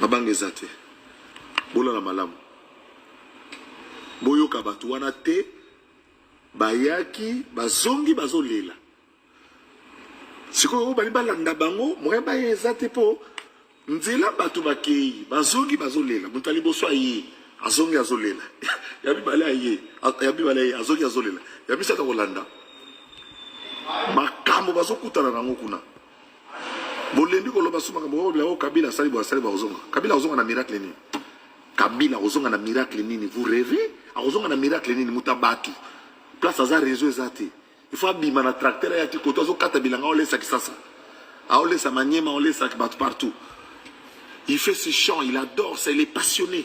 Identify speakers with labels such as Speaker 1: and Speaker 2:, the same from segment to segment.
Speaker 1: mabanga eza te bolala malamu boyoka bato wana te bayaki bazongi bazolela sikoyo oyo balingi balanda bango moyen baye eza te mpo nzela bato bakei bazongi bazolela moto ya liboso aye azongi azolela ya mibale aye ya mibale aye azongi azolela ya misato akolanda makambo bazokutana nango kuna bolembi koloba su makambo oyo yango kabila asali boye asali bakozonga kabila akozonga na miracle nini kabila akozonga na miracle nini vous revez akozonga na miracle nini moto ya bato place aza réseau eza te il faut abima na tracteur ayaki koto azokata bilanga aolesa kisasa aolesa maniema aolesa bato partout il fait ses chants il adore ça il est passionné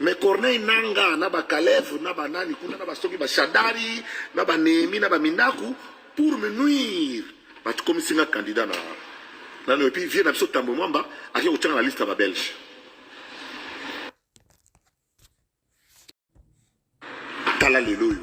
Speaker 1: Mais Corneille Nanga na ba Kalev na ba nani kuna na ba soki ba Shadari na ba Nehemi na ba Minaku pour me nuire batu comme singa candidat na na et puis vieux na biso Tambo Mwamba ake ko tanga na liste ba Belge tala lelo yo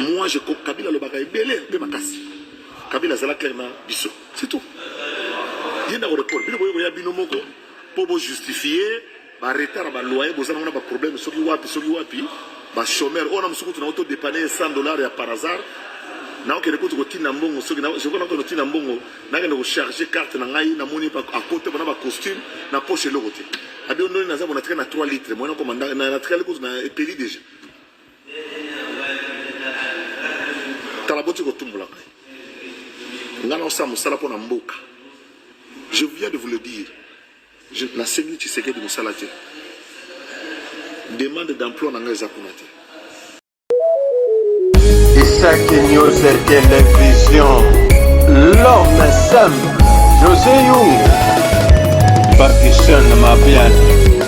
Speaker 1: Moi, je crois Kabila lobaka ebele mpe makasi. Kabila azala clair na biso. C'est tout. Ye ndako report. Bino boye koya bino moko mpo bo justifier ba retard ba loyer bozana wana ba problème soki wapi soki wapi ba chômeur oyo na mosuku tuna auto dépanner 100 dollars ya par hasard na okende kutu kotinda mbongo soki soki na okende kotinda mbongo nakende kocharge carte na ngai namoni akote bona bacostume na poche eloko te abi ondoni naza bonatika na 3 litre moyena komanda natikali kutu na epeli déjà tala boti kotumbola ngai ngai naosala mosala mpo na mboka je viens de vous le dire nasengi tshisekedi mosala te demande d'emploi na ngai eza kuna te
Speaker 2: isaki news television l'homme simple josé yung bakisene mabiane